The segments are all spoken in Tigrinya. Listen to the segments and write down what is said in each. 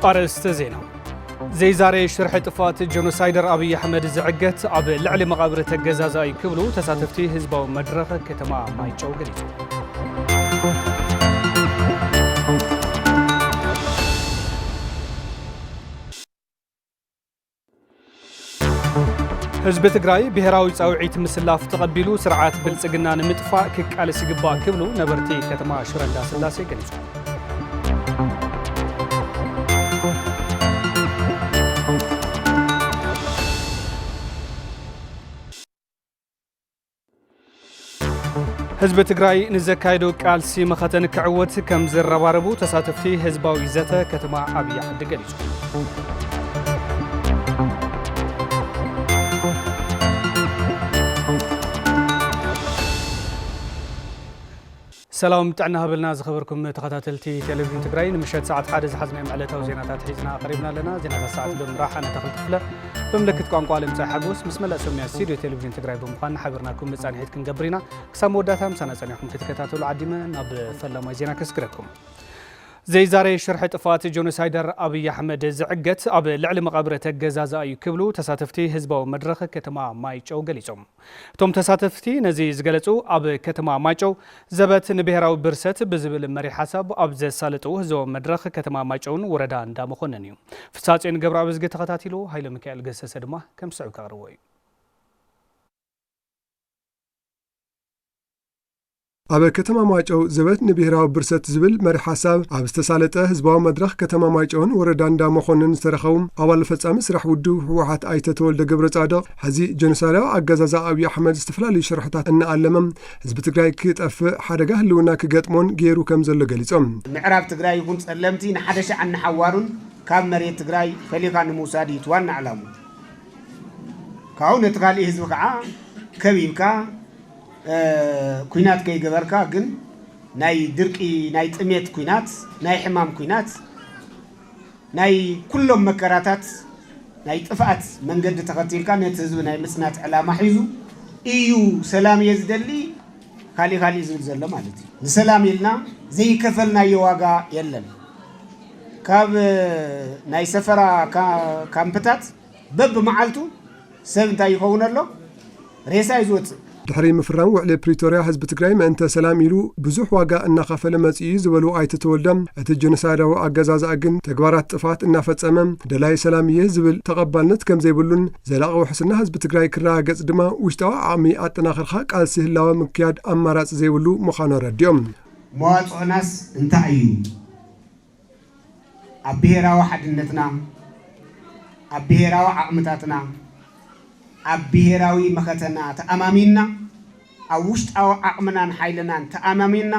ኣርእስተ ዜና ዘይዛሬ ሽርሒ ጥፋት ጀኖሳይደር ኣብይ ኣሕመድ ዝዕገት ኣብ ልዕሊ መቓብሪ ተገዛዛኢ ክብሉ ተሳተፍቲ ህዝባዊ መድረኽ ከተማ ማይጨው ገሊጹ። ህዝቢ ትግራይ ብሄራዊ ፃውዒት ምስላፍ ተቐቢሉ ስርዓት ብልፅግና ንምጥፋእ ክቃለስ ይግባእ ክብሉ ነበርቲ ከተማ ሽረ እንዳስላሴ ገሊፆም። ህዝቢ ትግራይ ንዘካይዶ ቃልሲ መኸተ ንክዕወት ከም ዝረባረቡ ተሳተፍቲ ህዝባዊ ዘተ ከተማ ኣብያ ዓዲ ገሊጹ። ሰላም ጥዕና ሃበልና ዝኸበርኩም ተኸታተልቲ ቴሌቪዥን ትግራይ ንምሸት ሰዓት ሓደ ዝሓዝናዮም ዕለታዊ ዜናታት ሒዝና ቀሪብና ኣለና ዜናታት ሰዓት ሎም ራሓ ነተኽል ክፍለ ብምልክት ቋንቋ ልምፃይ ሓጎስ ምስ መላእ ሰሚያ ስቱድዮ ቴሌቪዥን ትግራይ ብምዃን ሓበርናኩም መፃንሒት ክንገብር ኢና ክሳብ መወዳእታ ምሳና ፀኒሕኩም ክትከታተሉ ዓዲመ ናብ ፈላማይ ዜና ከስግረኩም ዘይዛረይ ሽርሒ ጥፋት ጆኖሳይደር ኣብይ ኣሕመድ ዝዕገት ኣብ ልዕሊ መቓብረ ተገዛዝኣ እዩ ክብሉ ተሳተፍቲ ህዝባዊ መድረኽ ከተማ ማይጨው ገሊፆም እቶም ተሳተፍቲ ነዚ ዝገለፁ ኣብ ከተማ ማይጨው ዘበት ንብሄራዊ ብርሰት ብዝብል መሪሕ ሓሳብ ኣብ ዘሳለጥው ህዘቦም መድረኽ ከተማ ማይጨውን ወረዳ እንዳ መኮነን እዩ። ፍሳፅዮን ገብረኣብዝጊ ተኸታቲሉ ሃይለሚካኤል ገሰሰ ድማ ከም ዝስዕብ ከቕርቦ እዩ። ኣብ ከተማ ማይጨው ዘበት ንብሄራዊ ብርሰት ዝብል መሪ ሓሳብ ኣብ ዝተሳለጠ ህዝባዊ መድረኽ ከተማ ማይጨውን ወረዳ እንዳ መኮንን ዝተረኸቡ ኣባል ፈጻሚ ስራሕ ውድብ ህወሓት ኣይተ ተወልደ ገብረ ጻድቕ ሕዚ ጀኖሳይዳዊ ኣገዛዛ ኣብዪ ኣሕመድ ዝተፈላለዩ ሽርሕታት እናኣለመ ህዝቢ ትግራይ ክጠፍእ ሓደጋ ህልውና ክገጥሞን ገይሩ ከም ዘሎ ገሊጾም። ምዕራብ ትግራይ ይኹን ጸለምቲ ንሓደሻዕን ንሓዋሩን ካብ መሬት ትግራይ ፈሊኻ ንምውሳድ እዩ እቲ ዋና ዕላሙ ካብኡ ነቲ ካሊእ ህዝቢ ከዓ ከቢብካ ኩናት ከይገበርካ ግን ናይ ድርቂ ናይ ጥሜት ኩናት ናይ ሕማም ኩናት ናይ ኩሎም መከራታት ናይ ጥፍኣት መንገዲ ተኸቲልካ ነቲ ህዝቢ ናይ ምፅናት ዕላማ ሒዙ እዩ ሰላም እየ ዝደሊ ካሊእ ካሊእ ዝብል ዘሎ ማለት እዩ። ንሰላም ኢልና ዘይከፈልናዮ ዋጋ የለን። ካብ ናይ ሰፈራ ካምፕታት በብመዓልቱ ሰብ እንታይ ይኸውን ኣሎ? ሬሳ እዩ ዝወፅእ። ድሕሪ ምፍራም ውዕሊ ፕሪቶርያ ህዝቢ ትግራይ ምእንተ ሰላም ኢሉ ብዙሕ ዋጋ እናኸፈለ መፂኡ እዩ ዝበሉ ኣይተ ተወልደ፣ እቲ ጀኖሳይዳዊ ኣገዛዝኣ ግን ተግባራት ጥፍኣት እናፈፀመ ደላዪ ሰላም እየ ዝብል ተቐባልነት ከምዘይብሉን ዘላቒ ውሕስና ህዝቢ ትግራይ ክረጋገፅ ድማ ውሽጣዊ ዓቕሚ ኣጠናኺርካ ቃልሲ ህላወ ምክያድ ኣማራፂ ዘይብሉ ምዃኑ ኣረዲኦም። መዋፅኦናስ እንታይ እዩ? ኣብ ብሄራዊ ሓድነትና፣ ኣብ ብሄራዊ ዓቕምታትና፣ ኣብ ብሄራዊ መኸተና ተኣማሚንና፣ ኣብ ውሽጣዊ ዓቕምናን ሓይልናን ተኣማሚንና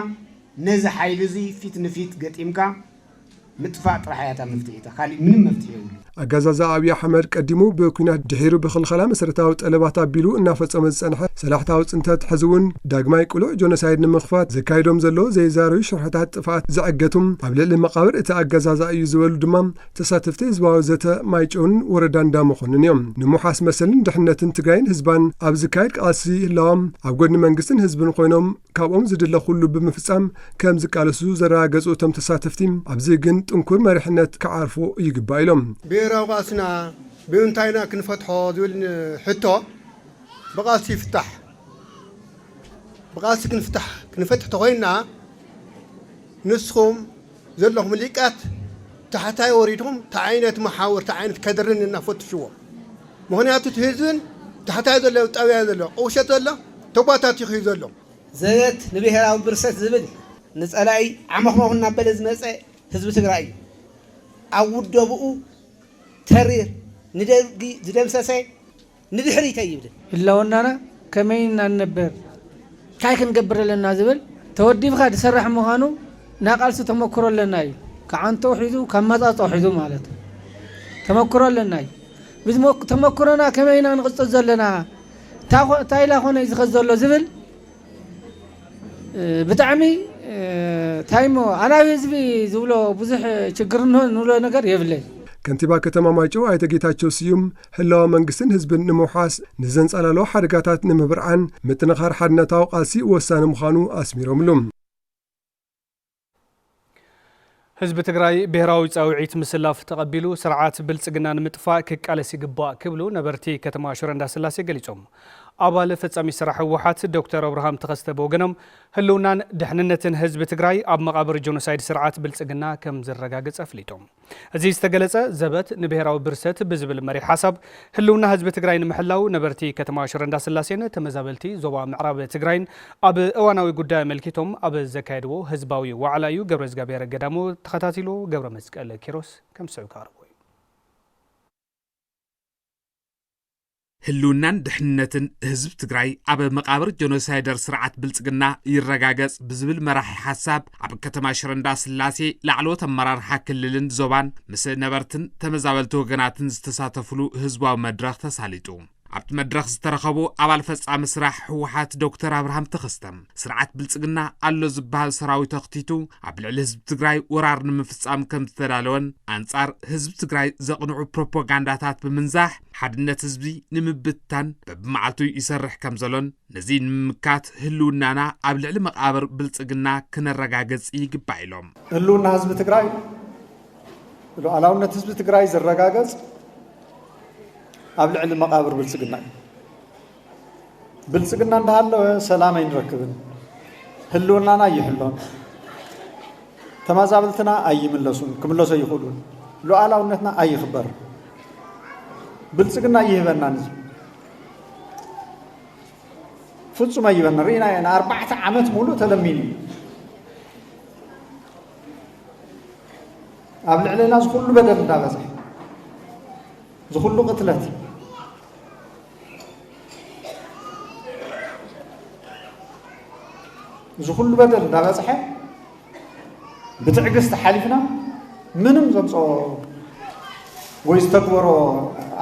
ነዚ ሓይሊ እዚ ፊት ንፊት ገጢምካ ምጥፋእ ጥራሕ እያ እታ መፍትሒታ ካሊእ ምንም መፍትሒ የብሉን። ኣገዛዝኣ ኣብይ ኣሕመድ ቀዲሙ ብኲናት ድሒሩ ብኽልኸላ መሰረታዊ ጠለባት ኣቢሉ እናፈፀሞ ዝፀንሐ ሰላሕታዊ ፅንተት ሕዚ እውን ዳግማይ ቅሉዕ ጆኖሳይድ ንምኽፋት ዘካይዶም ዘሎ ዘይዛረዩ ሽርሕታት ጥፍኣት ዘዐገቱ ኣብ ልዕሊ መቓብር እቲ ኣገዛዝኣ እዩ ዝበሉ ድማ ተሳተፍቲ ህዝባዊ ዘተ ማይጨውን ወረዳ እንዳመኾንን እዮም። ንምውሓስ መሰልን ድሕንነትን ትግራይን ህዝባን ኣብ ዝካየድ ቃልሲ ህላወም ኣብ ጎድኒ መንግስትን ህዝብን ኾይኖም ካብኦም ዝድለ ኩሉ ብምፍጻም ከም ዝቃለሱ ዘረጋገጹ እቶም ተሳተፍቲ ኣብዚ ግን ጥንኩር መሪሕነት ክዓርፎ ይግባእ ኢሎም። ብሄራዊ ቃልስና ብምንታይ ኢና ክንፈትሖ ዝብል ሕቶ ብቓልሲ ይፍታሕ። ብቓልሲ ክንፍታሕ ክንፈትሕ ተኾይንና ንስኹም ዘለኹም ሊቃት ታሕታይ ወሪድኩም ታዓይነት ማሓውር ታዓይነት ከድርን እና ፈትሽዎ ምኽንያቱ እቲ ህዝብን ታሕታይ ዘሎ ጣብያ ዘሎ ቁሸት ዘሎ ተጓታቲኹ እዩ ዘሎ። ዘበት ንብሄራዊ ብርሰት ዝብል ንፀላኢ ዓመኽሞኽ እናበለ ዝመፀ ህዝቢ ትግራይ እዩ። ኣብ ውደብኡ ተሪር ንደርጊ ዝደምሰሰ፣ ንድሕሪት ኣይብልን። ህላወናና ከመይ እና ንነበር ታይ ክንገብር ኣለና ዝብል ተወዲብካ ዝሰራሕ ምዃኑ ናይ ቃልሲ ተመኩሮ ኣለና እዩ ከዓንተኡ ሒዙ ካብ መፃፀኡ ሒዙ ማለት ተመኩሮ ኣለና እዩ ብዝተመኩሮና ከመይ ኢና ንቕፅል ዘለና ታይላ ኮነ እዩ ዝኸድ ዘሎ ዝብል ብጣዕሚ ታይሞ ኣናብ ህዝቢ ዝብሎ ብዙሕ ችግር ንብሎ ነገር የብለይ። ከንቲባ ከተማ ማይጨው ኣይተ ጌታቸው ስዩም ህላወ መንግስትን ህዝብን ንምውሓስ ንዘንጸላልዎ ሓደጋታት ንምብርዓን ምጥንኻር ሓድነታዊ ቃልሲ ወሳኒ ምዃኑ ኣስሚሮምሉ። ህዝቢ ትግራይ ብሄራዊ ፃውዒት ምስላፍ ተቐቢሉ ስርዓት ብልፅግና ንምጥፋእ ክቃለስ ይግባእ ክብሉ ነበርቲ ከተማ ሽረ እንዳስላሴ ገሊፆም። ኣባል ፈፃሚ ስራሕ ህወሓት ዶክተር ኣብርሃም ተኸስተ ብወገኖም ህልውናን ድሕንነትን ህዝቢ ትግራይ ኣብ መቓብር ጆኖሳይድ ስርዓት ብልፅግና ከምዝረጋገፅ ኣፍሊጦም። እዚ ዝተገለፀ ዘበት ንብሄራዊ ብርሰት ብዝብል መሪሕ ሓሳብ ህልውና ህዝቢ ትግራይ ንምሕላው ነበርቲ ከተማ ሽረ እንዳስላሴን ተመዛበልቲ ዞባ ምዕራብ ትግራይን ኣብ እዋናዊ ጉዳይ ኣመልኪቶም ኣብ ዘካየድዎ ህዝባዊ ዋዕላ እዩ ገብረዝጋብሄር ገዳሙ ተኸታቲሉ ገብረመስቀል ኪሮስ ከምዝስዕብ ከቕርቦ እዩ። ህልውናን ድሕንነትን ህዝቢ ትግራይ ኣብ መቃብር ጀኖሳይደር ስርዓት ብልፅግና ይረጋገፅ ብዝብል መራሒ ሓሳብ ኣብ ከተማ ሽረንዳ ስላሴ ላዕለዎት ኣመራርሓ ክልልን ዞባን ምስ ነበርትን ተመዛበልቲ ወገናትን ዝተሳተፍሉ ህዝባዊ መድረኽ ተሳሊጡ ኣብቲ መድረኽ ዝተረኸቡ ኣባል ፈጻሚ ስራሕ ህወሓት ዶክተር ኣብርሃም ተኸስተም ስርዓት ብልፅግና ኣሎ ዝበሃል ሰራዊት ኣኽቲቱ ኣብ ልዕሊ ህዝቢ ትግራይ ወራር ንምፍፃም ከም ዝተዳለወን ኣንጻር ህዝቢ ትግራይ ዘቕንዑ ፕሮፓጋንዳታት ብምንዛሕ ሓድነት ህዝቢ ንምብትታን በብመዓልቱ ይሰርሕ ከም ዘሎን ነዚ ንምምካት ህልውናና ኣብ ልዕሊ መቓብር ብልፅግና ክነረጋግፅ ይግባእ ኢሎም ህልውና ህዝቢ ትግራይ ሉዓላውነት ህዝቢ ትግራይ ዝረጋገፅ ኣብ ልዕሊ መቓብር ብልፅግና እዩ ብልፅግና እንዳሃለወ ሰላም ኣይንረክብን፣ ህልውናና ኣይሕሎን፣ ተማዛብልትና ኣይምለሱን ክምለሱ ኣይኽእሉን፣ ሉኣላውነትና ኣይኽበርን፣ ብልፅግና ኣይህበናን እዩ ፍፁም ኣይበና ርኢና ኢና ኣርባዕተ ዓመት ሙሉእ ተለሚኑ እዩ ኣብ ልዕልና ዝኩሉ በደል እንዳበዝሐ ዝኩሉ ቅትለት እዚ ኩሉ በደል እንዳበፅሐ ብትዕግስቲ ሓሊፍና ምንም ዘምፅኦ ወይ ዝተግበሮ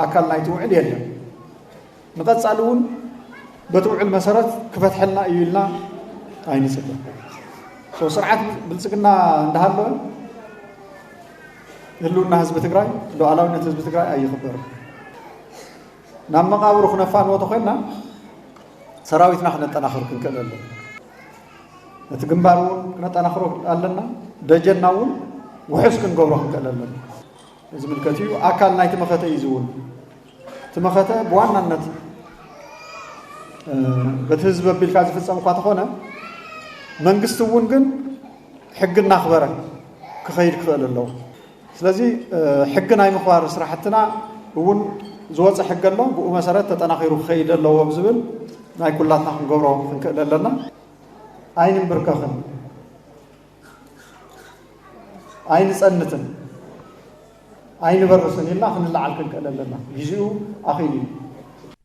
ኣካል ናይቲ ውዕል የለን ንቐፃሊ እውን በቲ ውዕል መሰረት ክፈትሐልና እዩ ኢልና ኣይንፅበ ስርዓት ብልፅግና እንዳሃለወ ህልውና ህዝቢ ትግራይ ሉዓላዊነት ህዝቢ ትግራይ ኣይኽበርን ናብ መቓብሩ ክነፋንዎ ተኾይንና ሰራዊትና ክነጠናኽር ክንክእል ኣለና። ነቲ ግንባር እውን ክነጠናኽሮ ኣለና። ደጀና እውን ውሑስ ክንገብሮ ክንክእል ኣለና። ዝምልከት እዩ። ኣካል ናይቲ መኸተ እዩ ዝውን እቲ መኸተ ብዋናነት በቲ ህዝቢ ኣቢልካ ዝፍፀም እኳ ተኾነ መንግስቲ እውን ግን ሕጊ እናኽበረ ክኸይድ ክኽእል ኣለዎ። ስለዚ ሕጊ ናይ ምኽባር ስራሕትና እውን ዝወፀ ሕጊ ኣሎ፣ ብኡ መሰረት ተጠናኺሩ ክኸይድ ኣለዎ ብዝብል ናይ ኩላትና ክንገብሮ ክንክእል ኣለና። ኣይንምብርከኽን፣ ኣይንፀንትን፣ ኣይንበርስን ኢልና ክንለዓል ክንክእል ኣለና። ግዚኡ ኣኺሉ እዩ።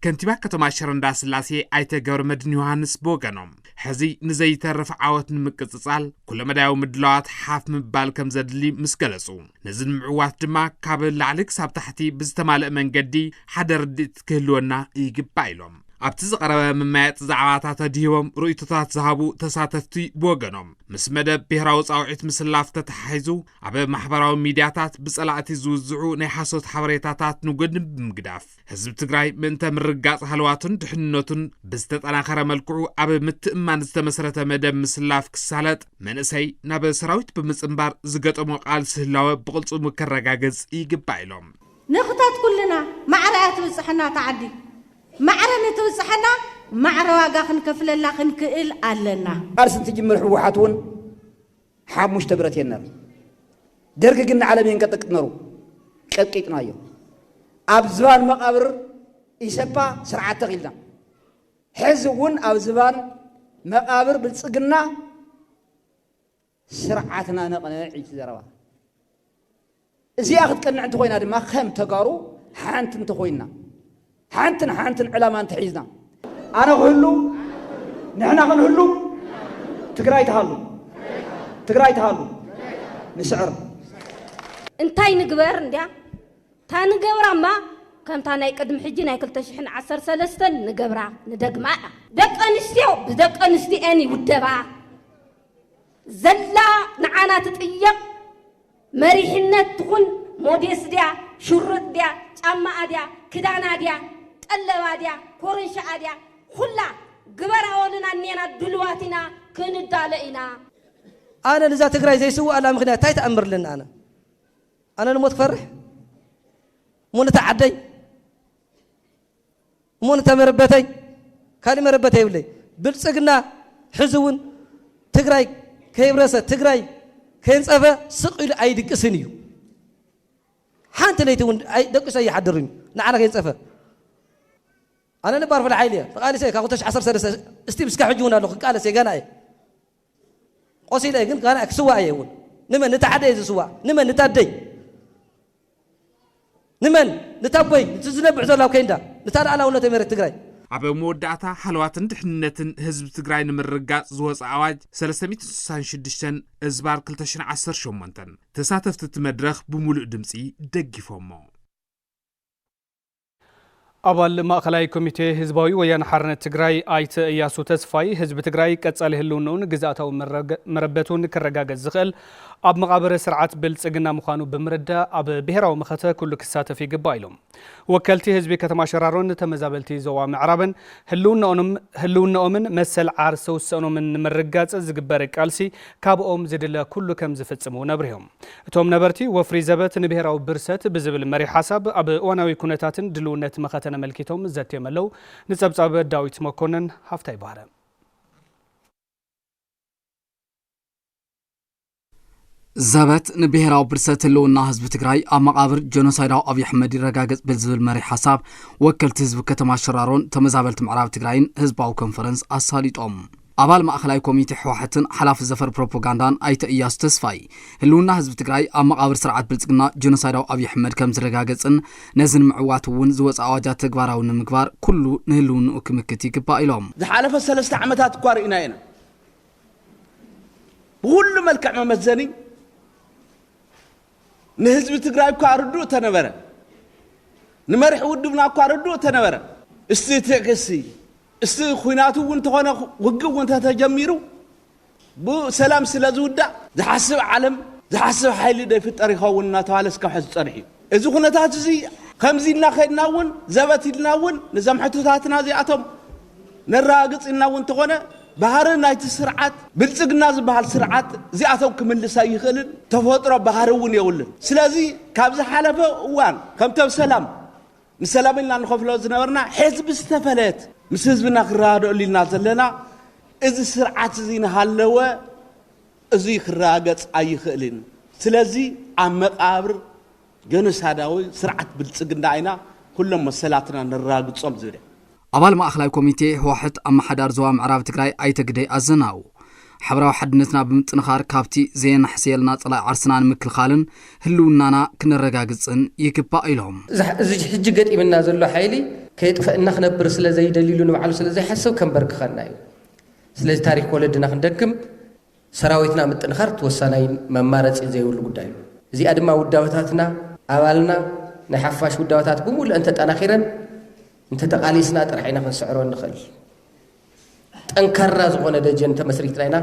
ከንቲባ ከተማ ሽረ እንዳስላሴ ኣይተ ገብረመድህን ዮሃንስ ብወገኖም ሕዚ ንዘይተርፍ ዓወት ንምቅጽጻል ኩለመዳያዊ ምድላዋት ሓፍ ምባል ከም ዘድሊ ምስ ገለጹ ነዚ ንምዕዋት ድማ ካብ ላዕሊ ክሳብ ታሕቲ ብዝተማልእ መንገዲ ሓደ ርድኢት ክህልወና ይግባእ ኢሎም ኣብቲ ዝቐረበ መመያየጢ ዛዕባታት ኣድሂቦም ርእይቶታት ዝሃቡ ተሳተፍቲ ብወገኖም ምስ መደብ ብሄራዊ ፃውዒት ምስላፍ ተተሓሒዙ ኣብ ማሕበራዊ ሚድያታት ብፀላእቲ ዝውዝዑ ናይ ሓሶት ሓበሬታታት ንጎድኒ ብምግዳፍ ህዝቢ ትግራይ ምእንተ ምርጋጽ ሃለዋቱን ድሕንነቱን ብዝተጠናኸረ መልክዑ ኣብ ምትእማን ዝተመሰረተ መደብ ምስላፍ ክሳለጥ መንእሰይ ናብ ሰራዊት ብምጽንባር ዝገጠሞ ቃልሲ ህላወ ብቕልጽሙ ከረጋግጽ ይግባእ ኢሎም ንኽተት ኩልና ማዕረ እያ ትብጽሐና እታ ዓዲ ማዕረ ንትብጽሐና ማዕረ ዋጋ ክንከፍለላ ክንክእል ኣለና። ቃልሲ እንትጅምር ህወሓት እውን ሓሙሽተ ብረት እየን ነረን። ደርግ ግን ንዓለም እየን ቀጥቅጥ ነሩ። ቀጥቂጥናዮ። ኣብ ዝባን መቓብር ኢሰፓ ስርዓት ተኺልና ሕዚ እውን ኣብ ዝባን መቓብር ብልፅግና ስርዓትና ነቕንዕ እዩ ዘረባ እዚኣ ክትቀንዕ እንተኾይና ድማ ከም ተጋሩ ሓንቲ እንተኾይንና፣ ሓንትን ሓንትን ዕላማ እንተሒዝና፣ ኣነ ክህሉ፣ ንሕና ክንህሉ፣ ትግራይ ትሃሉ፣ ትግራይ ትሃሉ፣ ንስዕር። እንታይ ንግበር እንድያ እታ ንገብራ እማ ከምታ ናይ ቅድሚ ሕጂ ናይ ክልተ ሽሕን ዓሰርተ ሰለስተን ንገብራ ንደግማ እያ። ደቂ ኣንስትዮ ብደቂ ኣንስትዮኤን ይውደባ። ዘላ ንዓና ትጥየቕ። መሪሕነት ትኹን ሞዴስ ድያ ሽርጥ ድያ ጫማኣ ድያ ክዳና ድያ ቀለባ ድያ ኮርንሽኣ ድያ ኹላ ግበራኦልና እኔና ድሉዋት ኢና ክንዳሎ ኢና። ኣነ ንዛ ትግራይ ዘይስውኣላ ምኽንያት ታይ ተኣምር ኣለኒ ኣነ ኣነ ንሞት ክፈርሕ እሞ ነታ ዓደይ እሞ ነታ መረበተይ ካሊእ መረበተይ የብለይ ብልፅግና ሕዚ እውን ትግራይ ከይብረሰ ትግራይ ከይንፀፈ ስቕ ኢሉ ኣይድቅስን እዩ ሓንቲ ለይቲ እውን ደቂሱ ኣይሓድርን እዩ ንዓና ከይንፀፈ ኣነ ነባር ፍለ ሓይሊ እየ ተቃሊሰ ካብ 2013 እስቲብ እስከ ሕጂ እውን ኣሎ ክቃለስ እየ ገና እየ ቆሲለ እየ ግን ካኣ ክስዋእ እየ እውን ንመን ንታ ሓደ እየ ዝስዋእ ንመን ንታ ኣደይ ንመን ንታ ኣቦይ እቲ ዝነብዕ ዘሎ ኣብ ከይንዳ ንታ ልኣላውነተይ መሬት ትግራይ ኣብ መወዳእታ ሃለዋትን ድሕንነትን ህዝቢ ትግራይ ንምርግጋፅ ዝወፀ ኣዋጅ 366 እዝባር 2018 ተሳተፍቲ እቲ መድረኽ ብሙሉእ ድምፂ ደጊፎሞ። ኣባል ማእኸላይ ኮሚቴ ህዝባዊ ወያነ ሓርነት ትግራይ ኣይተ እያሱ ተስፋይ ህዝቢ ትግራይ ቀፃሊ ህልውንኡን ግዝኣታዊ መረበቱን ክረጋገፅ ዝኽእል ኣብ መቓበረ ስርዓት ብልፅግና ምዃኑ ብምርዳእ ኣብ ብሄራዊ መኸተ ኩሉ ክሳተፍ ይግባእ ኢሎም። ወከልቲ ህዝቢ ከተማ ሸራሮን ተመዛበልቲ ዞባ ምዕራብን ህልውናኦምን መሰል ዓርሰ ውሳኖምን ንምርጋፅ ዝግበር ቃልሲ ካብኦም ዝድለ ኩሉ ከምዝፍፅም እውን ኣብሪሆም። እቶም ነበርቲ ወፍሪ ዘበት ንብሄራዊ ብርሰት ብዝብል መሪሕ ሓሳብ ኣብ እዋናዊ ኩነታትን ድልውነት መኸተ ነመልኪቶም ዘትዮም ኣለው። ንፀብፃብ ዳዊት መኮነን ሃፍታይ ባህረ። ዘበት ንብሔራዊ ብርሰት ህልውና ህዝቢ ትግራይ ኣብ መቓብር ጀኖሳይዳዊ ኣብዪ ኣሕመድ ይረጋገጽ ብዝብል መሪ ሓሳብ ወከልቲ ህዝቢ ከተማ ሸራሮን ተመዛበልቲ ምዕራብ ትግራይን ህዝባዊ ኮንፈረንስ ኣሳሊጦም ኣባል ማእኸላይ ኮሚቴ ህወሓትን ሓላፊ ዘፈር ፕሮፖጋንዳን ኣይተ እያሱ ተስፋይ፣ ህልውና ህዝቢ ትግራይ ኣብ መቓብር ስርዓት ብልፅግና ጆኖሳይዳዊ ኣብይ ኣሕመድ ከምዝረጋገፅን ነዚ ንምዕዋት እውን ዝወፀ ኣዋጃት ተግባራዊ ንምግባር ኩሉ ንህልውንኡ ክምክት ይግባእ ኢሎም። ዝሓለፈ ሰለስተ ዓመታት እኳ ርኢናዮ ኢና። ብኹሉ መልክዕ መመዘኒ፣ ንህዝቢ ትግራይ እኳ ርዱእ ተነበረ፣ ንመርሒ ውድብና እኳ ርዱእ ተነበረ። እስቲ ትዕግስቲ፣ እስቲ ኩናት እውን ተኾነ ውግእ እውን ተተጀሚሩ ብሰላም ስለ ዝውዳእ ዝሓስብ ዓለም ዝሓስብ ሓይሊ ዶ ይፍጠር ይኸውን እናተባህለ እስካብ ሕዚ ፀኒሑ እዩ። እዚ ኩነታት እዚ ከምዚ እናኸድና እውን ዘበት ኢልና እውን ንዘም ሕቶታትና እዚኣቶም ነረጋግጽ ኢልና እውን እንተኾነ ባህሪ ናይቲ ስርዓት ብልጽግና ዝበሃል ስርዓት እዚኣቶም ክምልስ ኣይኽእልን፣ ተፈጥሮ ባህሪ እውን የብሉን። ስለዚ ካብ ዝሓለፈ እዋን ከምቲ ኣብ ሰላም ንሰላም ኢልና ንኸፍሎ ዝነበርና ሐዚ ብዝተፈለየት ምስ ህዝብና ክረዳደኣሉ ኢልና ዘለና እዚ ስርዓት እዚ እናሃለወ እዙይ ክረጋገጽ ኣይኽእልን። ስለዚ ኣብ መቓብር። ጀኖሳዳዊ ስርዓት ብልፅግና ኢና ኩሎም መሰላትና ነራግፆም ዝብል እያ። ኣባል ማእኸላይ ኮሚቴ ህወሓት ኣመሓዳሪ ዞባ ምዕራብ ትግራይ ኣይተ ግደይ ኣዘናው ሓበራዊ ሓድነትና ብምጥንኻር ካብቲ ዘየናሕስየልና ፀላኢ ዓርስና ንምክልኻልን ህልውናና ክነረጋግፅን ይግባእ ኢሎም። እዚ ሕጂ ገጢምና ዘሎ ሓይሊ ከየጥፈእና ክነብር ስለዘይደልይሉ ንባዕሉ ስለዘይሓስብ ከምበርክኸና እዩ። ስለዚ ታሪኽ ወለድና ክንደግም ሰራዊትና ምጥንኻርት ወሳናይን መማረፂ ዘይብሉ ጉዳይ እዩ። እዚኣ ድማ ውዳበታትና ኣባልና ናይ ሓፋሽ ውዳበታት ብሙሉእ እንተጠናኺረን እንተተቓሊስና ጥራሕ ኢና ክንስዕሮ እንኽእል። ጠንካራ ዝኾነ ደጀን እንተመስሪትና ኢና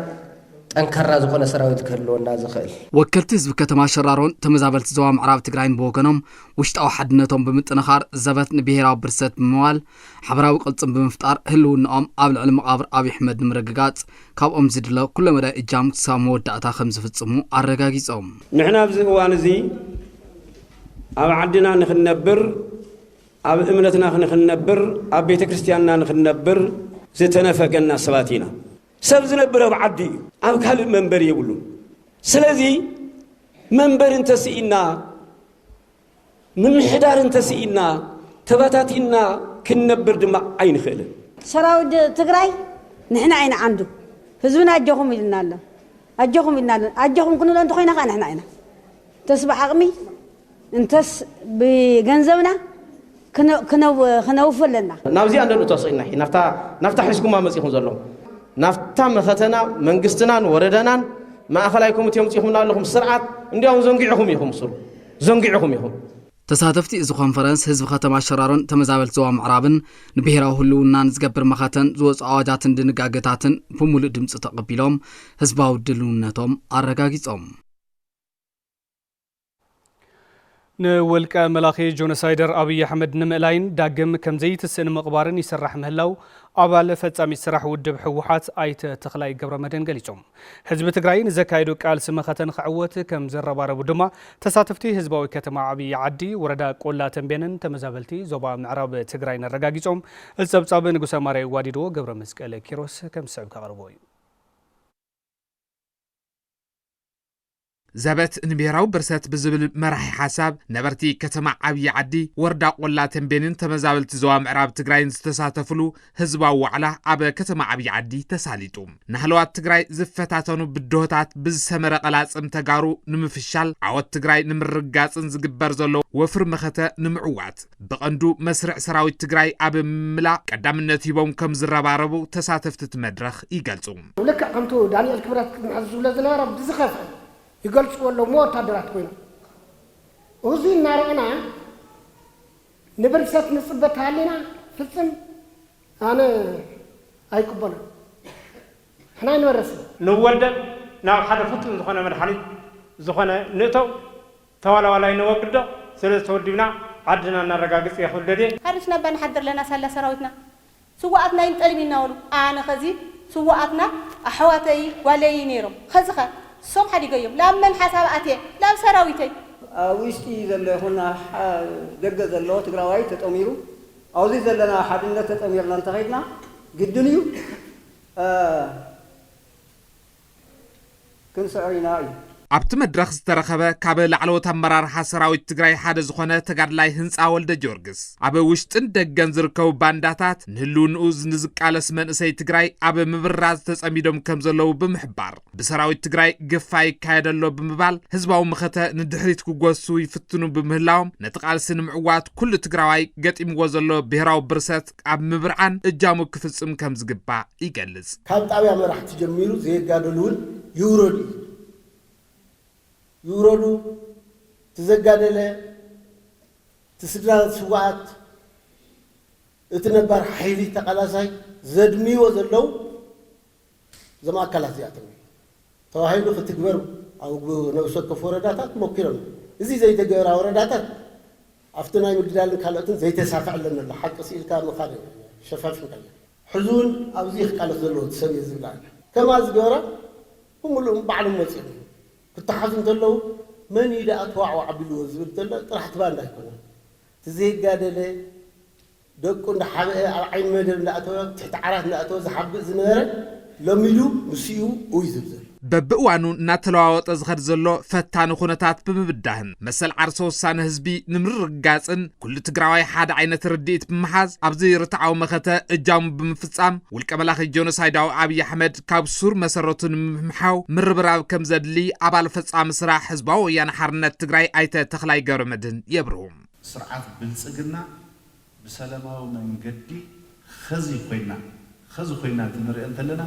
ጠንካራ ዝኾነ ሰራዊት ክህልወና ዝኽእል። ወከልቲ ህዝቢ ከተማ ሸራሮን ተመዛበልቲ ዞባ ምዕራብ ትግራይን ብወገኖም ውሽጣዊ ሓድነቶም ብምጥንኻር ዘበት ንብሄራዊ ብርሰት ብምባል ሓበራዊ ቅልፅም ብምፍጣር ህልውንኦም ኣብ ልዕሊ መቓብር ኣብይ ኣሕመድ ንምርግጋፅ ካብኦም ዝድለ ኩለመዳይ እጃም ክሳብ መወዳእታ ከምዝፍፅሙ ኣረጋጊፆም። ንሕና ኣብዚ እዋን እዚ ኣብ ዓድና ንክንነብር፣ ኣብ እምነትና ንክንነብር፣ ኣብ ቤተ ክርስቲያንና ንክንነብር ዝተነፈገና ሰባት ኢና። ሰብ ዝነብር ኣብ ዓዱ እዩ፣ ኣብ ካልእ መንበሪ የብሉን። ስለዚ መንበሪ እንተስኢንና ምምሕዳር እንተስኢንና ተበታቲንና ክንነብር ድማ ኣይንኽእልን። ሰራዊት ትግራይ ንሕና ኢና ዓንዱ ህዝብና ኣጆኹም ኢሉና ኣሎ ኣጆኹም ኢልና ኣሎ ኣጆኹም ክንብሎ እንተኾይና ከዓ ንሕና ኢና እንተስ ብዓቕሚ እንተስ ብገንዘብና ክነውፊ ኣለና። ናብዚኣ እንዶ ተስኢልና ሕጂ ናብታ ሒዝኩማ መጺኹም ዘለኹም ናብታ መኸተና መንግስትናን ወረደናን ማእኸላይ ኮሚቴ ኣምጺኹምና ኣለኹም ስርዓት እንዲያውም ዘንጊዕኹም ኢኹም ሱር ዘንጊዕኹም ኢኹም። ተሳተፍቲ እዚ ኮንፈረንስ ህዝቢ ከተማ ሸራሮን ተመዛበልቲ ዞባ ምዕራብን ንብሄራዊ ህልውና ንዝገብር መኸተን ዝወፅኡ ኣዋጃትን ድንጋገታትን ብሙሉእ ድምፂ ተቐቢሎም ህዝባዊ ድልውነቶም ኣረጋጊፆም። ንውልቀ መላኺ ጆኖሳይደር ኣብይ ኣሕመድ ንምእላይን ዳግም ከምዘይትስእ ንምቕባርን ይስራሕ ምህላው ኣባል ፈጻሚት ስራሕ ውድብ ህወሓት ኣይተ ተኽላይ ገብረመድህን ገሊጾም። ህዝቢ ትግራይ ንዘካየዱ ቃልሲ መኸተ ንክዕወት ከምዝረባረቡ ድማ ተሳተፍቲ ህዝባዊ ከተማ ዓብይ ዓዲ ወረዳ ቆላ ተንቤንን ተመዛበልቲ ዞባ ምዕራብ ትግራይን ኣረጋጊጾም። እዚ ጸብጻብ ንጉሰ ማርያ ይዋዲድዎ ገብረመስቀል ኪሮስ ከምዝስዕብ ከቕርቦ እዩ። ዘበት ንብሄራዊ ብርሰት ብዝብል መራሒ ሓሳብ ነበርቲ ከተማ ዓብዪ ዓዲ፣ ወረዳ ቆላ ተምቤንን ተመዛበልቲ ዞባ ምዕራብ ትግራይን ዝተሳተፍሉ ህዝባዊ ዋዕላ ኣብ ከተማ ዓብዪ ዓዲ ተሳሊጡ። ንሃለዋት ትግራይ ዝፈታተኑ ብድሆታት ብዝሰመረ ቐላፅም ተጋሩ ንምፍሻል፣ ዓወት ትግራይ ንምርግጋፅን ዝግበር ዘሎ ወፍሪ መኸተ ንምዕዋት፣ ብቐንዱ መስርዕ ሰራዊት ትግራይ ኣብ ምምላእ ቀዳምነት ሂቦም ከም ዝረባረቡ ተሳተፍቲ እቲ መድረኽ ይገልፁ። ልክዕ ከምቱ ዳኒኤል ክብረት ክምሕዝ ዝብሎ ዝነበረ ብዝኸፍኣ ይገልፅዎ ኣለዉ እሞ ወታደራት ኮይኖም እዙይ እናረእና ንብርሰት ንፅበ ተሃሊና ፍፅም ኣነ ኣይቅበሎን ንሕና ኣይንበርስን። ንወልደን ናብ ሓደ ፍቱን ዝኾነ መድሓኒት ዝኾነ ንእተው። ተዋላዋላይ ነወግዶ ሰለዚ ተወዲብና ዓድና ነረጋግጽ ኢየ ክብል ደልየ። ሓሪስና እባ ንሓድር ኣለና ሳላ ሰራዊትና ስውኣትና ይንጠልብ ኢናበሉ ኣነ ከዚ ስውኣትና ኣሕዋተይ ጓለይ እዩ ነይሮም ከዚ ከ እሶም ሓዲገዮም ላብ መን ሓሳብ ኣትየ ላብ ሰራዊተይ። ኣብ ዊሽጢ ዘሎ ይኹን ኣብ ደገ ዘሎ ትግራዋይ ተጠሚሩ ኣውዚ ዘለና ሓድነት ተጠሚርና እንተኸድና ግድን እዩ። ክንስዕር ኢና ኢሉ። ኣብቲ መድረኽ ዝተረኸበ ካብ ላዕለዎት ኣመራርሓ ሰራዊት ትግራይ ሓደ ዝኾነ ተጋድላይ ህንፃ ወልደጀወርግስ፣ ኣብ ውሽጥን ደገን ዝርከቡ ባንዳታት ንህልውንኡ ንዝቃለስ መንእሰይ ትግራይ ኣብ ምብራዝ ተፀሚዶም ከምዘለዉ ብምሕባር፣ ብሰራዊት ትግራይ ግፋ ይካየድ ኣሎ ብምባል ህዝባዊ መኸተ ንድሕሪት ክጎስሱ ይፍትኑ ብምህላዎም ነቲ ቃልሲ ንምዕዋት ኩሉ ትግራዋይ ገጢምዎ ዘሎ ብሄራዊ ብርሰት ኣብ ምብርዓን እጃሙ ክፍፅም ከምዝግባእ ይገልፅ። ካብ ጣብያ መራሕቲ ጀሚሩ ዘየጋደሉ እውን ይውረዱ እዩ ዝብል። ይውረዱ እቲ ዘጋደለ፣ እቲ ስድራ ስውኣት፣ እቲ ነባር ሓይሊ ተቓላሳይ ዘድምይዎ ዘለው፣ እዞም ኣካላት እዚኣቶም እዮም ተባሂሉ ክትግበር ኣብ ነብሲ ወከፍ ወረዳታት ሞኪሮም እዮም። እዚ ዘይተገበራ ወረዳታት ኣብቲ ናይ ምግዳልን ካልኦትን ዘይተሳክዐለን ኣሎ። ሓቂ ስኢልካ ምኻድ ሸፋፊንካያ። ሕዚ እውን ኣብዚ እዩ ክቃለስ ዘለዎ እቲ ሰብ እየ ዝብል ኣሎ። ከምኣ ዝገበራ ብምሉእም ባዕሎም ወፂኦም እዮም። ክተሓዙ እንተለዉ መን እዩ ደኣ ተዋዕዋዕ ኣቢልዎ ዝብል ዘሎ ጥራሕ እቲ ባንዳ ኣይኮነን። እቲ ዘይጋደለ፣ ደቁ እንዳሓበኤ ኣብ ዓይኒ መደብ እንዳኣተወ ኣብ ትሕቲ ዓራት እንዳኣተወ ዝሓብእ ዝነበረ ሎሚሉ ምስኡ ኡይ ዝብል ዘሎ። በብእዋኑ እናተለዋወጠ ዝኸድ ዘሎ ፈታኒ ኩነታት ብምብዳህን መሰል ዓርሰ ውሳነ ህዝቢ ንምርርግጋፅን ኩሉ ትግራዋይ ሓደ ዓይነት ርድኢት ብምሓዝ ኣብዚ ርትዓዊ መኸተ እጃሙ ብምፍፃም ውልቀ መላኺ ጆኖሳይዳዊ ኣብይ ኣሕመድ ካብ ሱር መሰረቱ ንምምሓው ምርብራብ ከምዘድሊ ኣባል ፈፃሚ ስራሕ ህዝባዊ ወያነ ሓርነት ትግራይ ኣይተ ተኽላይ ገብረመድህን የብርሁ። ስርዓት ብልፅግና ብሰለማዊ መንገዲ ኸዚ ኾይና ኸዚ ኾይና እንትንሪኦ እንተለና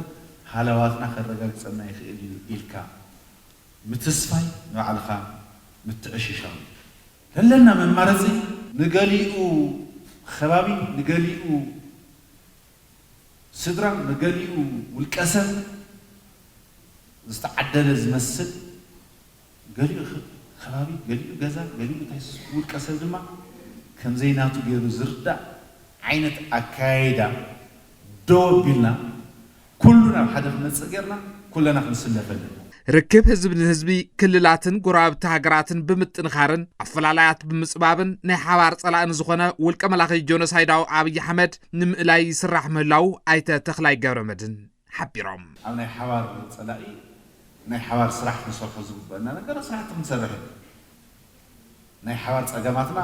ሃለዋትና ከረጋግፀልና ይኽእል እዩ ኢልካ ምትስፋይ ንባዕልኻ ምትዕሽሻው እዩ። ለለና መማረፂ! ንገሊኡ ኸባቢ፣ ንገሊኡ ስድራ፣ ንገሊኡ ውልቀሰብ ዝተዓደለ ዝመስል፣ ገሊኡ ከባቢ፣ ገሊኡ ገዛ፣ ገሊኡ እንታይ ስስዑ ውልቀ ሰብ ድማ ከምዘይ ናቱ ገይሩ ዝርዳእ ዓይነት ኣከያይዳ ደው ኣቢልና ኩሉ ናብ ሓደ ክመፅእ ገይርና ኩለና ክንስለፍ ኣለና። ርክብ ህዝቢ ንህዝቢ፣ ክልላትን ጎረባብቲ ሃገራትን ብምጥንኻርን ኣፈላላያት ብምፅባብን ናይ ሓባር ፀላኢ ንዝኾነ ውልቀ መላኺ ጆኖሳይዳዊ ኣብይ ኣሕመድ ንምእላይ ይስራሕ ምህላዉ ኣይተ ተኽላይ ገብረመድህን ሓቢሮም። ኣብ ናይ ሓባር ፀላኢ ናይ ሓባር ስራሕ ክንሰርሖ ዝግበእና ነገር ስራሕቲ ክንሰርሕ ኢና። ናይ ሓባር ፀገማትና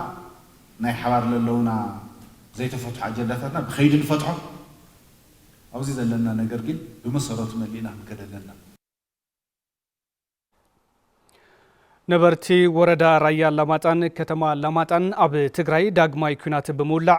ናይ ሓባር ለለውና ዘይተፈትሑ ኣጀንዳታትና ብከይዲ ንፈትሖም። ኣብዚ ዘለና ነገር ግን ብመሰረቱ መሊእና ክንከድ ኣለና። ነበርቲ ወረዳ ራያ ኣላማጣን ከተማ ኣላማጣን ኣብ ትግራይ ዳግማይ ኩናት ብምውላዕ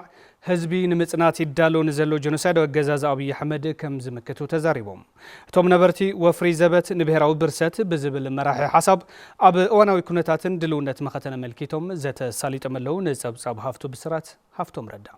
ህዝቢ ንምፅናት ይዳሎ ንዘሎ ጀኖሳይዳዊ ኣገዛዝ ኣብዪ ኣሕመድ ከም ዝምክቱ ተዛሪቦም። እቶም ነበርቲ ወፍሪ ዘበት ንብሄራዊ ብርሰት ብዝብል መራሒ ሓሳብ ኣብ እዋናዊ ኩነታትን ድልውነት መኸተን ኣመልኪቶም ዘተ ኣሳሊጦም ኣለው። ንፀብፃብ ሃፍቱ ብስራት ሃፍቶም ረዳ።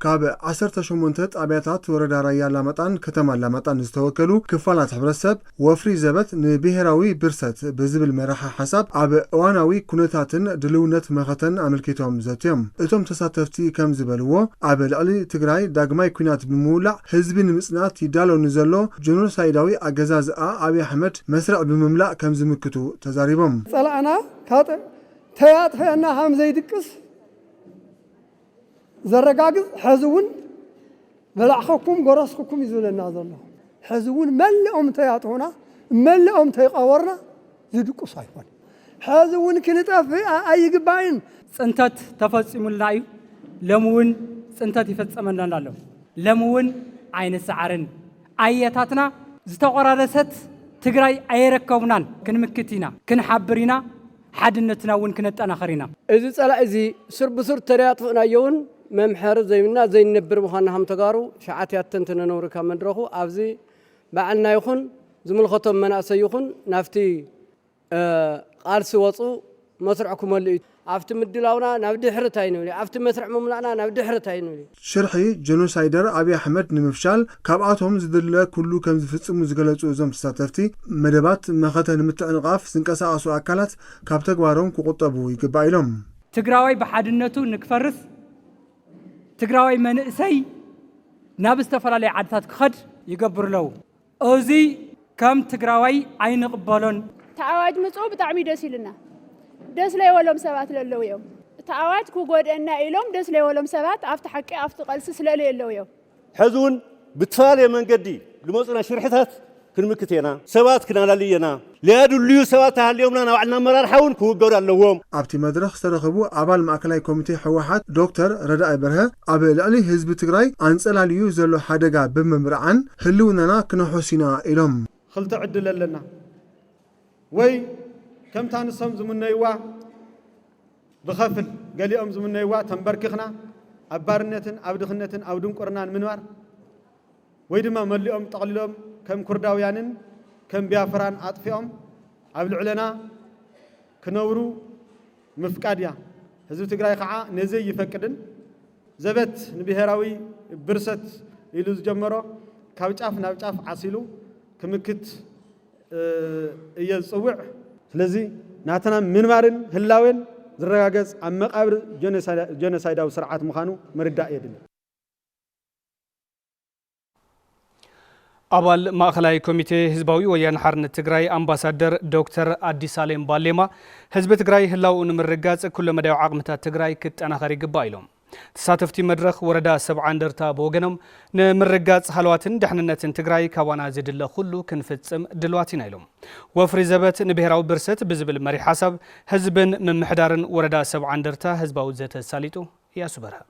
ካብ ዓሰርተ ሸሞንተ ጣብያታት ወረዳ ራያ ኣላማጣን ከተማ ኣላማጣን ዝተወከሉ ክፋላት ሕብረተሰብ ወፍሪ ዘበት ንብሄራዊ ብርሰት ብዝብል መራሒ ሓሳብ ኣብ እዋናዊ ኩነታትን ድልውነት መኸተን ኣመልኪቶም ዘትዮም። እቶም ተሳተፍቲ ከም ዝበልዎ ኣብ ልዕሊ ትግራይ ዳግማይ ኩናት ብምውላዕ ህዝቢ ንምፅናት ይዳሎ ንዘሎ ጆኖሳይዳዊ ኣገዛዝኣ ኣብይ ኣሕመድ መስርዕ ብምምላእ ከም ዝምክቱ ተዛሪቦም። ዝፀላእና ካብ ተይ ኣጥፈኣና ሃም ዘይድቅስ። ዘረጋግጽ ሐዚ እውን በላዕኹኩም ጎረስኹኩም እዩ ዝብለና ዘሎ። ሐዚ እውን መለኦም እንተይኣጥሁና መለኦም እንተይቐበርና ዝድቁስ ኣይኮነን። ሐዚ እውን ክንጠፍእ ኣይግባእን። ፅንተት ተፈፂሙልና እዩ። ሎሚ እውን ፅንተት ይፈፀመናን ኣሎ። ሎሚ እውን ኣይንሰዓርን። ኣያታትና ዝተቆራረሰት ትግራይ ኣየረከቡናን። ክንምክት ኢና፣ ክንሓብር ኢና። ሓድነትና እውን ክነጠናኸር ኢና። እዚ ፀላኢ እዚ ሱር ብሱር ተደያጥፍእናዮ እውን መምሐሪ ዘይብና ዘይንነብር ምዃንና ከም ተጋሩ ሸዓት ያተን ተነነውሪ ካብ መድረኹ ኣብዚ ባዕልና ይኹን ዝምልኸቶም መናእሰይ ይኹን ናብቲ ቓልሲ ወፁ መስርዕ ክመልኡ ኣብቲ ምድላውና ናብ ድሕርት ኣይንብል ኣብቲ መስርዕ ምምላእና ናብ ድሕርት ኣይንብል። ሽርሒ ጀኖሳይደር ኣብይ ኣሕመድ ንምፍሻል ካብኣቶም ዝድለ ኩሉ ከምዝፍፅሙ ዝገለፁ እዞም ተሳተፍቲ፣ መደባት መኸተ ንምትዕንቓፍ ዝንቀሳቐሱ ኣካላት ካብ ተግባሮም ክቑጠቡ ይግባእ ኢሎም። ትግራዋይ ብሓድነቱ ንክፈርስ ትግራዋይ መንእሰይ ናብ ዝተፈላለዩ ዓድታት ክኸድ ይገብርለው። እዙይ ከም ትግራዋይ ኣይንቕበሎን። እቲ ኣዋጅ ምፅኡ ብጣዕሚ ደስ ኢሉና ደስ ለይወሎም ሰባት ለለው እዮም እቲ ኣዋጅ ክጎድእና ኢሎም ደስ ለይወሎም ሰባት ኣፍቲ ሓቂ ኣፍቲ ቐልሲ ስለለየለው እዮም። ሐዚ ውን ብተፈላለየ መንገዲ ልመፁና ሽርሕታት ክንምክት የና ሰባት ክናላሊ የና። ለያድልዩ ሰባት ተሃልዮምና ናብ ባዕልና ኣመራርሓ እውን ክውገዱ ኣለዎም። ኣብቲ መድረኽ ዝተረኸቡ ኣባል ማእከላይ ኮሚቴ ህወሓት ዶክተር ረዳኢ በርሀ፣ ኣብ ልዕሊ ህዝቢ ትግራይ ኣንፀላልዩ ዘሎ ሓደጋ ብምብርዓን ህልውናና ክነሕሱ ኢና ኢሎም። ኽልተ ዕድል ኣለና። ወይ ከምታ ንሶም ዝምነዩዋ ብኸፍል፣ ገሊኦም ዝምነዩዋ ተምበርኪኽና ኣብ ባርነትን ኣብ ድኽነትን ኣብ ድንቁርናን ምንባር፣ ወይ ድማ መሊኦም ጠቕሊሎም ከም ኩርዳውያንን ከም ቢያፍራን ኣጥፊኦም ኣብ ልዕለና ክነብሩ ምፍቃድ እያ። ህዝቢ ትግራይ ኸዓ ነዚ ኣይፈቅድን። ዘበት ንብሄራዊ ብርሰት ኢሉ ዝጀመሮ ካብ ጫፍ ናብ ጫፍ ዓሲሉ ክምክት እየ ዝፅውዕ። ስለዚ ናትና ምንባርን ህላዌን ዝረጋገፅ ኣብ መቓብር ጀኖሳይዳዊ ስርዓት ምዃኑ ምርዳእ የድሊ። ኣባል ማእኸላይ ኮሚቴ ህዝባዊ ወያነ ሓርነት ትግራይ ኣምባሳደር ዶክተር ኣዲሳሌም ባሌማ ህዝቢ ትግራይ ህላውኡ ንምርጋፅ ኩለ መዳያዊ ዓቕምታት ትግራይ ክጠናኸር ይግባእ ኢሎም። ተሳተፍቲ መድረኽ ወረዳ ሰብዓ እንደርታ ብወገኖም ንምርጋፅ ሃለዋትን ደሕንነትን ትግራይ ካባና ዝድለ ኩሉ ክንፍፅም ድልዋት ኢና ኢሎም። ወፍሪ ዘበት ንብሄራዊ ብርሰት ብዝብል መሪሕ ሓሳብ ህዝብን ምምሕዳርን ወረዳ ሰብዓ እንደርታ ህዝባዊ ዘተ ኣሳሊጡ። እያሱ በርሀ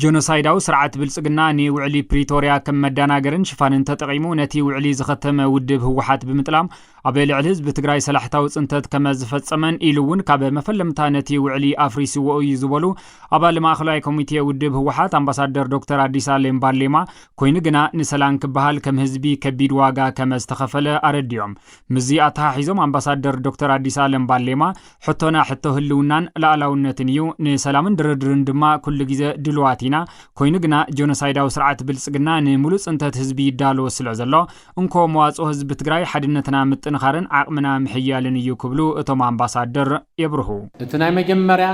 ጆኖሳይዳዊ ስርዓት ብልፅግና ንውዕሊ ፕሪቶርያ ከም መዳናገርን ሽፋንን ተጠቒሙ ነቲ ውዕሊ ዝኸተመ ውድብ ህወሓት ብምጥላም ኣብ ልዕሊ ህዝቢ ትግራይ ሰላሕታዊ ፅንተት ከመ ዝፈፀመን ኢሉ እውን ካብ መፈለምታ ነቲ ውዕሊ ኣፍሪስዎ እዩ ዝበሉ ኣባል ማእኸላይ ኮሚቴ ውድብ ህወሓት ኣምባሳደር ዶክተር ኣዲስ ኣሌም ባሌማ ኮይኑ ግና ንሰላም ክበሃል ከም ህዝቢ ከቢድ ዋጋ ከመ ዝተኸፈለ ኣረዲኦም። ምስዚ ኣተሓሒዞም ኣምባሳደር ዶክተር ኣዲስ ኣለም ባሌማ ሕቶና ሕቶ ህልውናን ልኣላውነትን ኢዩ፣ ንሰላምን ድርድርን ድማ ኩሉ ግዘ ድሉዋት ኢና፣ ኮይኑ ግና ጆኖሳይዳዊ ስርዓት ብልፅግና ንሙሉእ ፅንተት ህዝቢ ይዳሎ ስለዘሎ እንኮ መዋፅኦ ህዝቢ ትግራይ ሓድነትና ምጥንኻርን ዓቕምና ምሕያልን ኢዩ ክብሉ እቶም ኣምባሳደር የብርሁ። እቲ ናይ መጀመርያ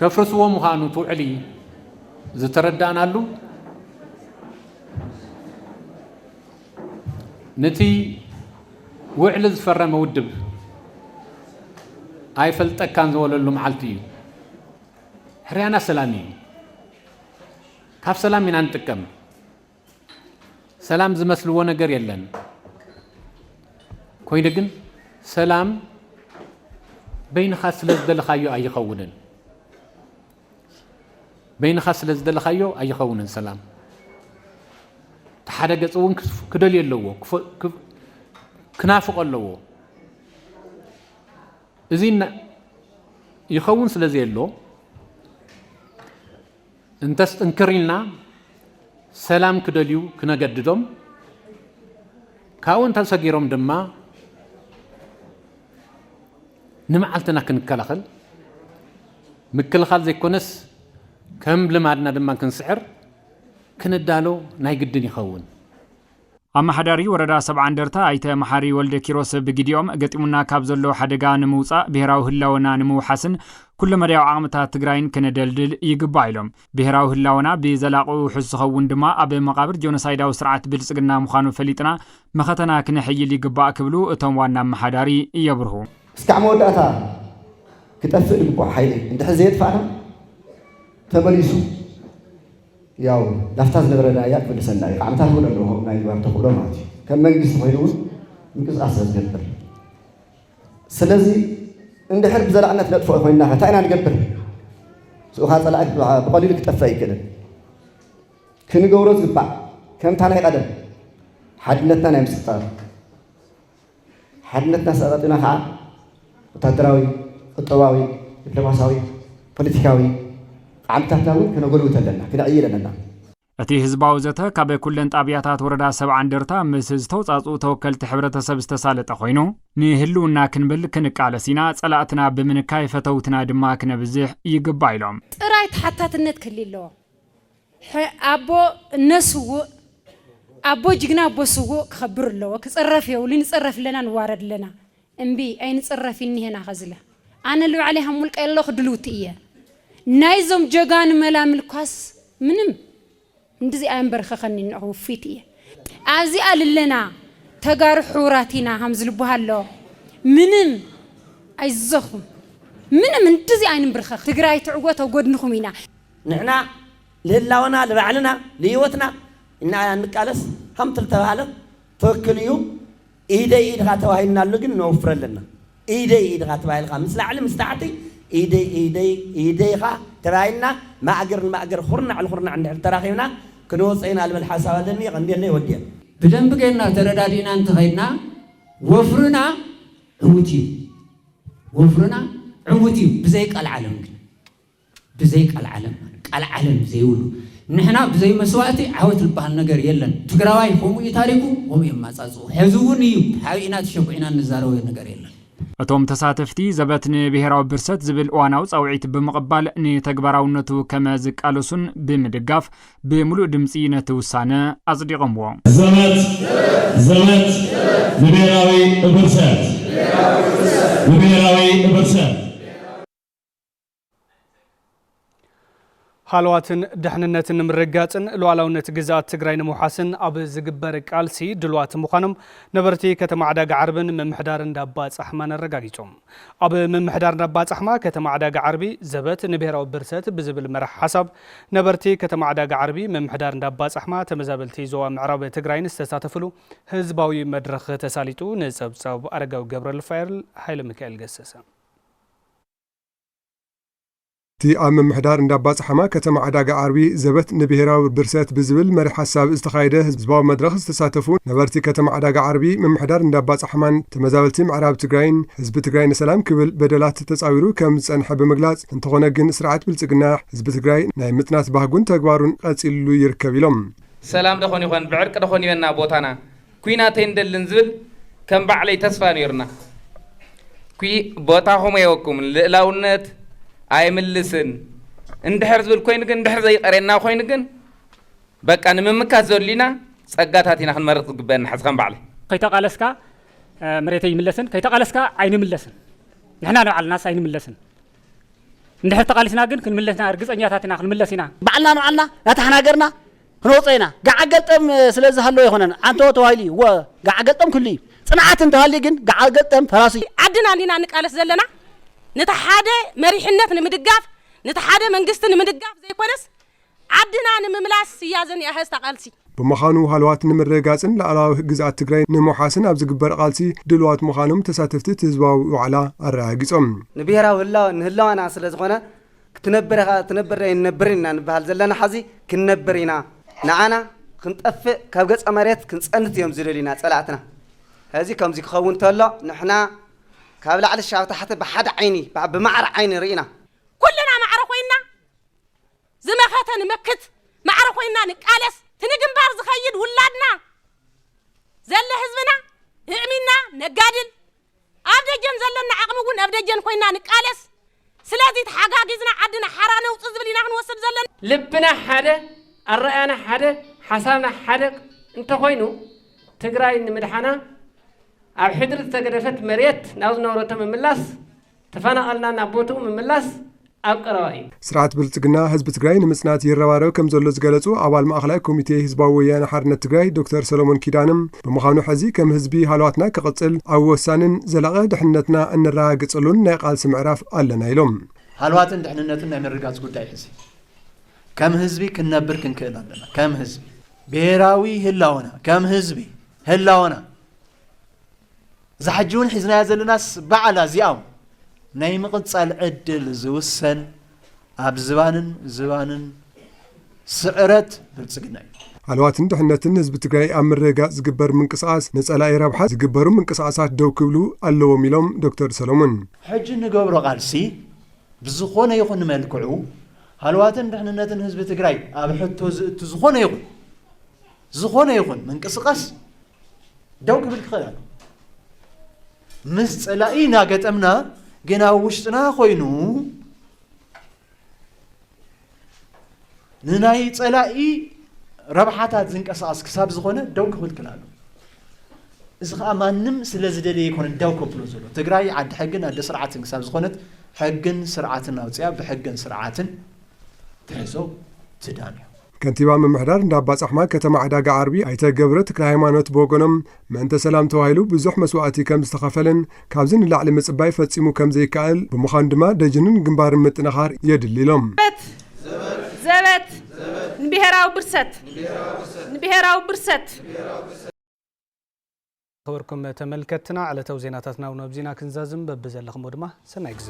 ከፍርስዎ ምዃኑ እቲ ውዕሊ ዝተረዳእናሉ፣ ንቲ ውዕሊ ዝፈረመ ውድብ ኣይፈልጠካን ዝበለሉ መዓልቲ እዩ። ሕርያና ሰላም እዩ። ካብ ሰላም ኢና ንጥቀም። ሰላም ዝመስልዎ ነገር የለን። ኮይኑ ግን ሰላም በይንኻ ስለ ዝደለኻዮ ኣይኸውንን። በይንኻ ስለ ዝደለኻዮ ኣይኸውንን ሰላም እቲ ሓደ ገፅ እውን ክደልዮ ኣለዎ ክናፍቆ ኣለዎ እዚ ይኸውን ስለ ዘየሎ እንተስ ጥንክር ኢልና ሰላም ክደልዩ ክነገድዶም ካብኡ እንተሰጊሮም ድማ ንመዓልትና ክንከላኸል ምክልኻል ዘይኮነስ ከም ልማድና ድማ ክንስዕር ክንዳሎ ናይ ግድን ይኸውን። ኣመሓዳሪ ወረዳ ሰብዓ እንደርታ ኣይተ መሓሪ ወልደኪሮስ ብግዲኦም፣ ገጢሙና ካብ ዘሎ ሓደጋ ንምውፃእ ብሄራዊ ህላወና ንምውሓስን ኩለመዳያዊ ዓቕምታት ትግራይን ክነደልድል ይግባእ ኢሎም። ብሄራዊ ህላወና ብዘላቒ ውሑስ ዝኸውን ድማ ኣብ መቓብር ጆኖሳይዳዊ ስርዓት ብልፅግና ምዃኑ ፈሊጥና መኸተና ክነሕይል ይግባእ ክብሉ እቶም ዋና ኣመሓዳሪ የብርሁ። እስካዕ መወዳእታ ክጠፍእ ዝግብኦ ሓይሊ እንድሕር ዘየጥፋእና ተመሊሱ ያው ናፍታ ዝነበረ ራያ ክምልሰና እዩ። ዓመታት እውን ኣለዎ ከምኡ ናይ ምግባር ተኽእሎ ማለት እዩ። ከም መንግስቲ ኮይኑ እውን ምንቅስቃስ ስለዝገብር ስለዚ እንድሕር ብዘላዕነት ነጥፍኦ ኮይንና ከ እንታይ ኢና ንገብር? ስኡኻ ፀላኢ ብቐሊሉ ክጠፍእ ኣይክእልን። ክንገብሮ ዝግባእ ከምታ ናይ ቀደም ሓድነትና ናይ ምስጣር ሓድነትና ስቕ ኣቐጢና ከኣ ወታደራዊ፣ ቁጠባዊ፣ ዲፕሎማስያዊ፣ ፖለቲካዊ ዓቕምታትና እውን ከነጎልብት ኣለና፣ ክነዕይል ኣለና። እቲ ህዝባዊ ዘተ ካብ ኩለን ጣብያታት ወረዳ ሰብዓ እንደርታ ምስ ዝተውፃፅኡ ተወከልቲ ሕብረተሰብ ዝተሳለጠ ኮይኑ ንህልውና ክንብል ክንቃለስ ኢና፣ ፀላእትና ብምንካይ ፈተውትና ድማ ክነብዝሕ ይግባእ ኢሎም። ጥራይ ተሓታትነት ክህሊ ኣለዎ። ሐ ኣቦ እነ ስውእ ኣቦ ጅግና ኣቦ ስውእ ክኸብር እለዎ ክፅረፍ የውሊ ንፅረፍ እለና ንዋረድ እለና እምቢ ኣይንፅረፍ ኢኒሀና ኸዝለ ኣነ ልባዕለይ ሃምውልቀይ እለኹ ድልውቲ እየ ናይ ዞም ጀጋኑ መላምል ኳስ ምንም እንድዚ ኣየምበርከኸኒን ንዑ ውፍይቲ እየ ኣብዚኣ ልለና ተጋሩ ሕውራት ኢና ሃምዝልቦሃሎ ምንም ኣይዞኹም ምንም እንድዚ ኣይንምብርከኽ ትግራይ ትዕጎት ኣብ ጎድንኹም ኢና። ንሕና ልህላወና ልባዕልና ልህይወትና እና ኢና እንቃለስ ሃምት ልተባህለ ትክክል እዩ ኢደይ ኢድካ ተባሂልና ኣሎ ግን ነወፍር ኣለና ኢደይ ኢድካ ተባሂልካ ምስ ላዕሊ ምስ ታሕቲ ኢደይ ኢደይ ኢደይካ ተባሂልና ማእገር ንማእገር ኹርናዕ ልኹርናዕ እንድሕር ተራኺብና ክንወጾ ኢና ልብል ሓሳብ ኣለኒ የቀንየለይ ወድየ። ብደንቢ ጌርና ተረዳዲእና እንተኸይድና ወፍርና ዕውት እዩ ወፍርና ዕውት እዩ ብዘይ ቀልዓለም ግን ብዘይ ቃልዓለም ማለት ቃልዓለም ዘይብሉ ንሕና ብዘይ መስዋእቲ ዓወት ልበሃል ነገር የለን ትግራዋይ ከምኡ እዩ ታሪኩ ከምኡ እዩ ኣማፃፅኡ ሕዚ እውን እዩ ተሓቢእና ተሸጉዒና እንዛረቦ ነገር የለን። እቶም ተሳተፍቲ ዘበት ንብሄራዊ ብርሰት ዝብል እዋናዊ ፃውዒት ብምቕባል ንተግባራውነቱ ከመ ዝቃለሱን ብምድጋፍ ብምሉእ ድምፂ ነቲ ውሳነ ኣፅዲቐምዎ። ዘበት ዘበት ንብሄራዊ ብርሰት ንብሄራዊ ብርሰት! ሃለዋትን ድሕንነትን ንምርግጋፅን ሉኣላውነት ግዝኣት ትግራይ ንምውሓስን ኣብ ዝግበር ቃልሲ ድሉዋት ምዃኖም ነበርቲ ከተማ ዕዳጋ ዓርብን ምምሕዳር እንዳባ ፃሕማን ኣረጋጊፆም። ኣብ ምምሕዳር እንዳባ ፃሕማ ከተማ ዕዳጋ ዓርቢ ዘበት ንብሄራዊ ብርሰት ብዝብል መራሕ ሓሳብ ነበርቲ ከተማ ዕዳጋ ዓርቢ ምምሕዳር እንዳባ ፃሕማ ተመዛበልቲ ዞባ ምዕራብ ትግራይን ዝተሳተፍሉ ህዝባዊ መድረኽ ተሳሊጡ ንፀብፃብ ኣረጋዊ ገብረልፋኤል ሃይለሚካኤል ገሰሰ እቲ ኣብ ምምሕዳር እንዳባፅሓማ ከተማ ዕዳጋ ዓርቢ ዘበት ንብሄራዊ ብርሰት ብዝብል መሪሕ ሓሳብ ዝተኻየደ ህዝባዊ መድረኽ ዝተሳተፉ ነበርቲ ከተማ ዕዳጋ ዓርቢ፣ ምምሕዳር እንዳባፅሓማን ተመዛበልቲ ምዕራብ ትግራይን ህዝቢ ትግራይ ንሰላም ክብል በደላት ተፃዊሩ ከም ዝፀንሐ ብምግላፅ እንተኾነ ግን ስርዓት ብልፅግና ህዝቢ ትግራይ ናይ ምፅናት ባህጉን ተግባሩን ቐፂልሉ ይርከብ ኢሎም። ሰላም ደኾን ይኾን ብዕርቂ ደኾን ይበና ቦታና? ኩናት ኣይንደልን ዝብል ከም ባዕለይ ተስፋ ነይሩና ኩ ቦታኹም ኣይወኩምን ልእላውነት ኣይምልስን እንድሕር ዝብል ኮይኑ ግን እንድሕር ዘይቀርየና ኮይኑ ግን በቃ ንምምካት ዘድልዩና ጸጋታት ኢና ክንመርጽ ዝግበአና ሕዚ ከም ባዕለይ ከይተቓለስካ መሬተይ ይምለስን ከይተቓለስካ ኣይንምለስን ንሕና ንባዕልናስ ኣይንምለስን እንድሕር ተቓሊስና ግን ክንምለስና ርግጸኛታት ኢና ክንምለስ ኢና ባዕልና ንባዕልና ናታሕና ገርና ክንወጽኦ ኢና። ገዓል ገልጠም ስለ ዝሃለወ ኣይኮነን ዓንተቦ ተባሂሉ እዩ። እወ ገዓል ገልጠም ክህሉ እዩ። ጽንዓት እንተሃልዩ ግን ገዓል ገልጠም ፈራሲ እዩ። ዓድና እንዲና ንቃለስ ዘለና ነቲ ሓደ መሪሕነት ንምድጋፍ ነቲ ሓደ መንግስቲ ንምድጋፍ ዘይኮነስ ዓድና ንምምላስ እያ ዘኒኣሀስታ ቃልሲ። ብምኻኑ ሃለዋት ንምርግጋጽን ላኣላዊ ግዝኣት ትግራይ ንምውሓስን ኣብ ዝግበር ቃልሲ ድልዋት ምኻኖም ተሳተፍቲ እቲ ህዝባዊ ዋዕላ ኣረጋጊጾም። ንብሄራዊ ህላወን ንህላወና ስለ ዝኾነ ክትነብር ኢኻ ክትነብር ኣይንነብርን ኢና ንበሃል ዘለና ሐዚ ክንነብር ኢና ንዓና ክንጠፍእ ካብ ገፀ መሬት ክንፀንት እዮም ዝደልዩና ፀላእትና ሐዚ ከምዚ ክኸውን ተሎ ንሕና ካብ ላዕሊ ሻብ ታሕቲ ብሓደ ዓይኒ ብማዕረ ዓይኒ ርኢና ኩልና ማዕረ ኮይንና ዝመኸተ ንመክት ማዕረ ኮይንና ንቃለስ እቲ ንግንባር ዝኸይድ ውላድና ዘለ ህዝብና እዕሚና ነጋድል ኣብ ደጀን ዘለና ዓቕሚ እውን እብ ደጀን ኮይንና ንቃለስ። ስለዚ ተሓጋጊዝና ዓድና ሓራ ነውጽእ ዝብል ኢና ክንወስድ ዘለና። ልብና ሓደ፣ ኣረኣእያና ሓደ፣ ሓሳብና ሓደ እንተኾይኑ ትግራይ ንምድሓና ኣብ ሕድሪ ዝተገደፈት መሬት ናብ ዝነበረቶ ምምላስ፣ ተፈናቐልና ናብ ቦትኡ ምምላስ ኣብ ቀረባ እዩ። ስርዓት ብልፅግና ህዝቢ ትግራይ ንምፅናት ይረባረብ ከምዘሎ ዝገለፁ ኣባል ማእኸላይ ኮሚቴ ህዝባዊ ወያነ ሓርነት ትግራይ ዶክተር ሰሎሞን ኪዳነ ብምዃኑ ሕዚ ከም ህዝቢ ሃለዋትና ክቕፅል ኣብ ወሳኒን ዘላቒ ድሕንነትና እነረጋግፀሉን ናይ ቓልሲ ምዕራፍ ኣለና ኢሎም። ሃለዋትን ድሕንነትን ናይ ምርግጋፅ ጉዳይ ሕዚ ከም ህዝቢ ክንነብር ክንክእል ኣለና። ከም ህዝቢ ብሄራዊ ህላወና ከም ህዝቢ ህላወና እዛ ሕጂ እውን ሒዝናያ ዘለናስ ባዕላ እዚኣም ናይ ምቕጻል ዕድል ዝውሰን ኣብ ዝባንን ዝባንን ስዕረት ብልጽግና እዩ። ሃለዋትን ድሕነትን ህዝቢ ትግራይ ኣብ ምርግጋፅ ዝግበር ምንቅስቓስ ንፀላኢ ረብሓ ዝግበሩ ምንቅስቓሳት ደው ክብሉ ኣለዎም ኢሎም ዶክተር ሰሎሞን። ሕጂ እንገብሮ ቃልሲ ብዝኾነ ይኹን መልክዑ ሃለዋትን ድሕንነትን ህዝቢ ትግራይ ኣብ ሕቶ ዝእቱ ዝኾነ ይኹን ዝኾነ ይኹን ምንቅስቓስ ደው ክብል ክኽእል ኣሎ ምስ ጸላኢ እናገጠምና ግን ኣብ ውሽጥና ኮይኑ ንናይ ጸላኢ ረብሓታት ዝንቀሳቐስ ክሳብ ዝኾነ ደው ክብል ክኽእል ኣሎ እዚ ከዓ ማንም ስለ ዝደለየ ይኮነ ደው ከብሎ ዘሎ ትግራይ ዓዲ ሕግን ኣደ ስርዓትን ክሳብ ዝኾነት ሕግን ስርዓትን ኣውፅያ ብሕግን ስርዓትን ክሕዞ ዝዳን እዩ። ከንቲባ ምምሕዳር እንዳባጻሕማ ከተማ ዕዳጋ ዓርቢ ኣይተ ገብረ ተክለሃይማኖት ብወገኖም ምእንተ ሰላም ተባሂሉ ብዙሕ መስዋእቲ ከም ዝተኸፈለን ካብዚ ንላዕሊ ምጽባይ ፈጺሙ ከም ዘይከኣል ብምዃኑ ድማ ደጅንን ግንባርን ምጥንኻር የድሊ ኢሎም። ዘበት ንብሄራዊ ብርሰት ንብሄራዊ ብርሰት ዝኸበርኩም ተመልከትና ዕለታዊ ዜናታትና እውን ኣብዚ ኢና ክንዛዝም በብዘለኽሞ ድማ ሰናይ ግዘ